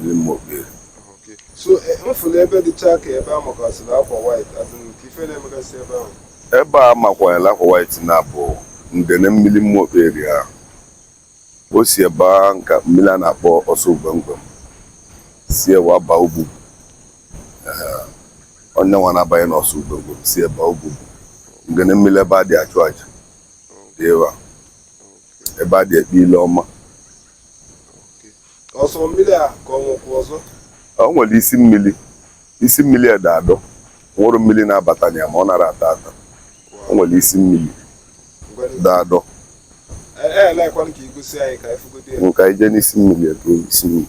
ndị mma okpere Okay. So eh, m fụrụ ebe dịcha ka ebe a makwasịrị akwa white as in ka ife na-emegasị ebe ahụ. ebe a makwanyela akwa white na bụ ngene mmiri mma okpere ahụ o si ebe a nka mmiri a na-akpọ ọsọ ugwemgwem si ewa baa ugbugbu Ee, ọ nya nwa na-abanye n'ọsọ ugwemgwem si ebe a ugbugbu ngene mmiri ebe a dị achụ aja dị ebe a ebe a dị ekpe ile ọma ọ sọ mmiri a ka o nwekwu ọzọ o nwere isi mmiri isi mmiri dị adọ nwụrụ mmiri na-abata na ya ma ọ nara ata ata o nwere isi mmiri dị adọ elekwanụ ka i gosi anyị ka anyị fụgodo ya nka ije n'isi mmiri ebe isi mmiri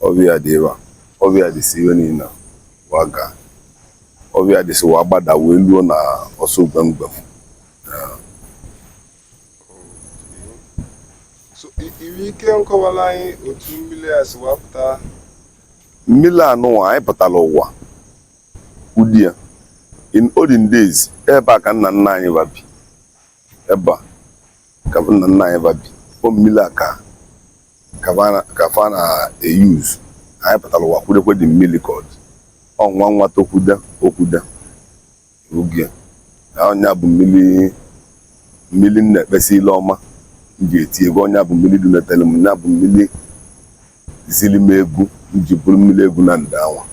ọfịa a dị ebe a ọfịa a dịsị ebe niile wa ga ọfịa a dị si ewa gbada wee luo na ọsọ gbemgbem so i- i nwe ike nkọwara anyị otu mmiri a si wapụta mmiri anụwa anyị pụtara ụwa ọ dị ya in olden days ebe a ka nna nna anyị fa bi ebe a ka nna nna anyị fa bi ọ mmiri a ka ka fa na-euse anyị pụtara ụwa kwudekwe dị mmiri ka ọ dị ọ nwa nwa tokwude okwude oge na ọ nya bụ mmiri mmiri m na-ekpesa ile ọma m ji eti egwu ọ nya bụ mmiri dunyetere m nya bụ mmiri ziri m egwu m ji bụrụ mmiri egwu na ndị anwa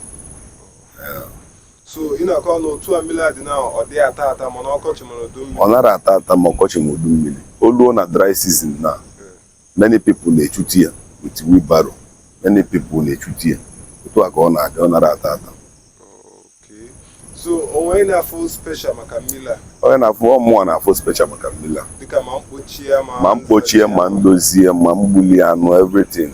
so ị na-akọ ọnụ otu a mmiri a dị na ọ dị ata ata ma na ọkọchị ma na udu mmiri ọ nara ata ata ma ọkọchị ma udu mmiri o luo na dry season na many people na-echuti ya with wheelbarrow many people na-echuti ya otu a ka ọ na-adị ọ nara ata ata Okay. So onye na-afụ special maka mmiri a onye na-afụ ọ mụwa na-afụ special maka mmiri a dịka ma mkpochi ya ma ma mkpochie ma ndozie ma mgbuli anụ everything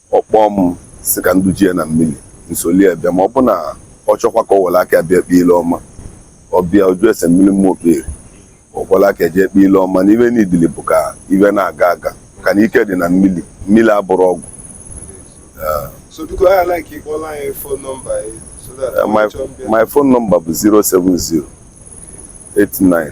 ọ kpọọ m sị ka m dujie na mmiri m solie bịa ma ọ bụ na ọ chọkwa ka ọ were aka bịa kpee ile ọma ọ bịa ọ jụọ ese mmiri mma okpere ọkwala aka jee kpee ile ọma na ife n'idili bụ ka ife na-aga aga ka na ike dị na mmiri mmiri abụrọ ọgwụ So biko I like ịkpọla anyị phone number ya so that Eh, my, anyị chọọ mbịa. my phone number bụ 070 89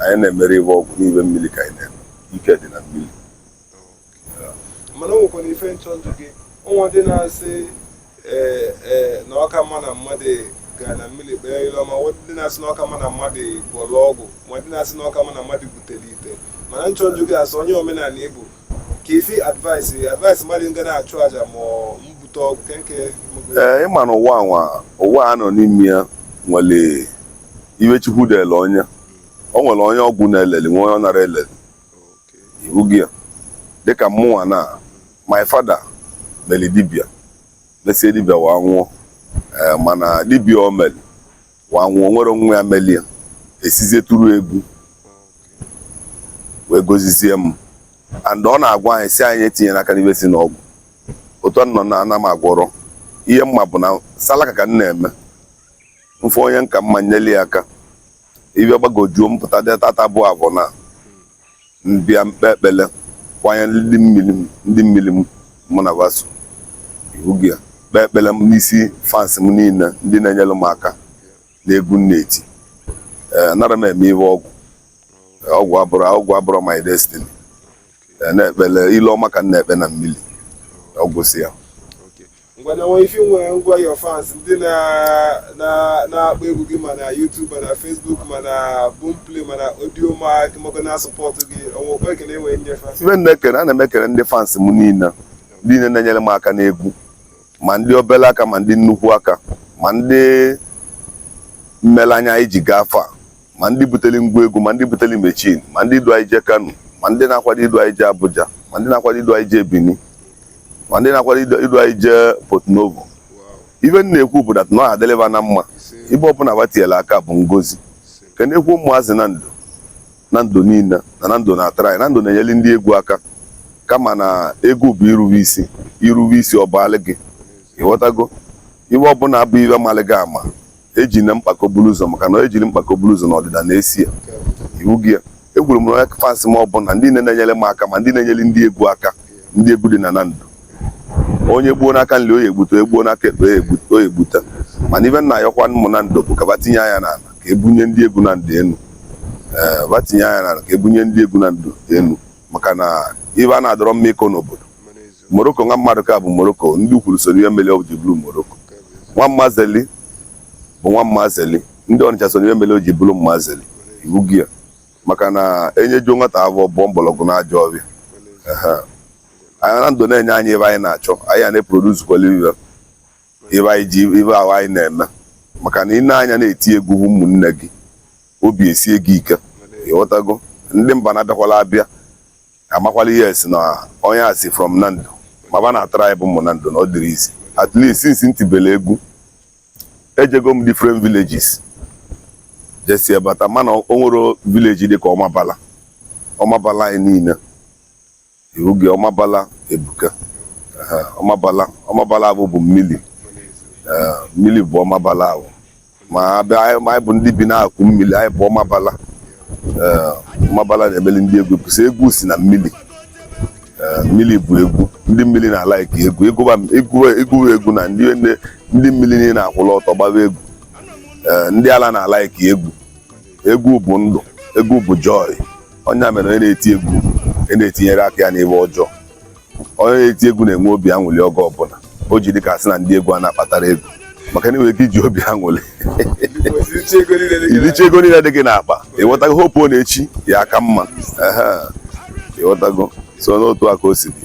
anyị na-emere ife ọgwụ n'ife mmiri ka anyị na-eme ike dị na mmiri mana o nwekwara ife m chọ ịjụ gị o nwe ndị na-asị ee ee na ọ ka mma na mmadụ ga na mmiri kpee ile ọma nwe ndị na-asị na ọ ka mma na mmadụ gwọrọ ọgwụ ma ndị na-asị na ọ ka mma na mmadụ butere ite mana m chọ ịjụ gị as onye omenala ị bụ ka ife advice advice mmadụ nga na-achụ aja ma ọ mbute ọgwụ kee nke ee ị ma na ụwa anwa ụwa a nọ n'ime ya nwere ihe chukwu dele onye o nwere onye ọgwụ na-eleli nwee onye ọ nara eleli ị wụgo ya dịka mmụnwa na my father meli dibia mesie dibia wa nwụọ ee mana dibia o meli wa nwụọ nwere nwa ya meli ya esizie tụrụ egwu wee gozizie m and ọ na-agwa anyị sị anyị etinyena aka n'ibe si n'ọgwụ otu a nọ na ana m agwọrọ ihe m ma bụ na salaka ka m na-eme m fụ onye m ka mma m nyeli ya aka ibe gbagojuo m pụta dị taata bụ afọ na m bịa m kpee ekpele kwanye ndị mmiri m ndị mmiri m mụ na ba so ị wụgo ya kpee ekpele m n'isi fans m niile ndị na-enyere m aka n'egwu m na-eti ee anara m eme ihe ọgwụ ọgwụ abụrọ ọgwụ abụrọ my destiny na-ekpele ilu ọma ka m na-ekpe na mmiri ọ gwụsịa ngwanenwe ife nwere ngwa your fans ndị na-akpọ egwu gị ma na YouTube ma na Facebook ma na Boomplay ma na Audiomack maka na sọpọtụ gị ọnwa okwe ekele enwe nyefe ife na-ekele ana m ekele ndị fans m niile niile na-enyere m aka n'egwu ma ndị obere aka ma ndị nnukwu aka ma ndị meli anyị ji gaa afọ a ma ndị butere ngwa egwu ma ndị butere machine ma ndị du anyị jee Kano ma ndị na-akwado idu anyị jee Abuja ma ndị na-akwado idu anyị jee Benin ma ndị na-akwado idu anyị jee Porto Novo ife m na-ekwu bụ that na ọ ga-adịlị ba na mma ibe ọbụla ba tiela aka bụ ngozi kenekwuo ụmụazị Nando Nando niile na Nando na-atry Nando na-enyeli ndị egwu aka kama na egwu bụ irube isi irube isi ọ bụ alị gị ịghọtago ihe ọbụla bụ ihe a malị gị ama ejina mkpako buru ụzọ maka na ejiri mkpako buru ụzọ na ọdịda na-eso ya ị wụgo ya ekwuru m na onye fans m ọbụla ndị na-enyere m aka ma ndị na-enyere ndị egwu aka ndị egwu dị na Nando onye gbuo n'aka nri ọ ya-egbute onye gbuo n'aka ekpe ọ ya-egbute mana ibe m na-ayọkwa ụmụ Nando bụ ka ba tinye anya n'ala ka e bunie ndị egwu Nando enu ee ba tinye anya n'ala ka e bunie ndị egwu Nando enu maka na ibe a na adịrọ mma ịkọ n'obodo Morocco nwa Mmadụka bụ Morocco ndị Ukwulu so n'ihe mere o ji bụrụ Morocco nwa mmazeli bụ nwa mmazeli ndị ọnịcha so n'ihe mere o ji bụrụ mmazeli ị wụgo ya maka na e nyejuo nwata afọ ọ bọọ mgbọrọgwụ na ajọ ọfịa na Nando na-enye anyị ibe anyị na-achọ anyị a na-eproduzukwala ibe ibe anyị ji ibe ahụ anyị na-eme maka na ị na-anya na-eti egwu hụ ụmụnne gị obi esie gị ike ịghọtago ndị mba na-abịakwala abịa amakwala ihe esi na onye a si from Nando ma ba na-atry bụ ụmụ Nando na ọ dịrọ easy at least since m tibele egwu ejego m different villages jesi ebata mana o nwere village dịka ọmabala ọmabala anyị niile iwu gị ọmabala ebuka Aha, ọmabala ọmabala ahụ bụ mmili Ee, mmili bụ ọmabala ahụ ma abịa anyị ma anyị bụ ndị bi n'akụkụ mmili anyị bụ ọmabala Ee, ọmabala na-emeli ndị egwu kwụsị egwu si na mmili Ee, mmili bụ egwu ndị mmili na-alike egwu ị gụba egwu egwu egwu na ndị ndị mmili niile akwụlụ ọtọ gbaba egwu Ee, ndị ala na-alike egwu egwu bụ ndụ egwu bụ joy ọ nya mere onye na-eti egwu e na-etinyere aka ya n'ihe ọjọọ onye na-eti egwu na-enwe obi aṅụli oge ọbụla o ji dị ka a sị na ndị egwu a na-akpatara ego maka na i nwere ike iji obi aṅụli ilicha ego niile dị gị n'akpa ịghọtago hope ọ na echi ya-aka mma ịghọtago so n'otu a ka o si dị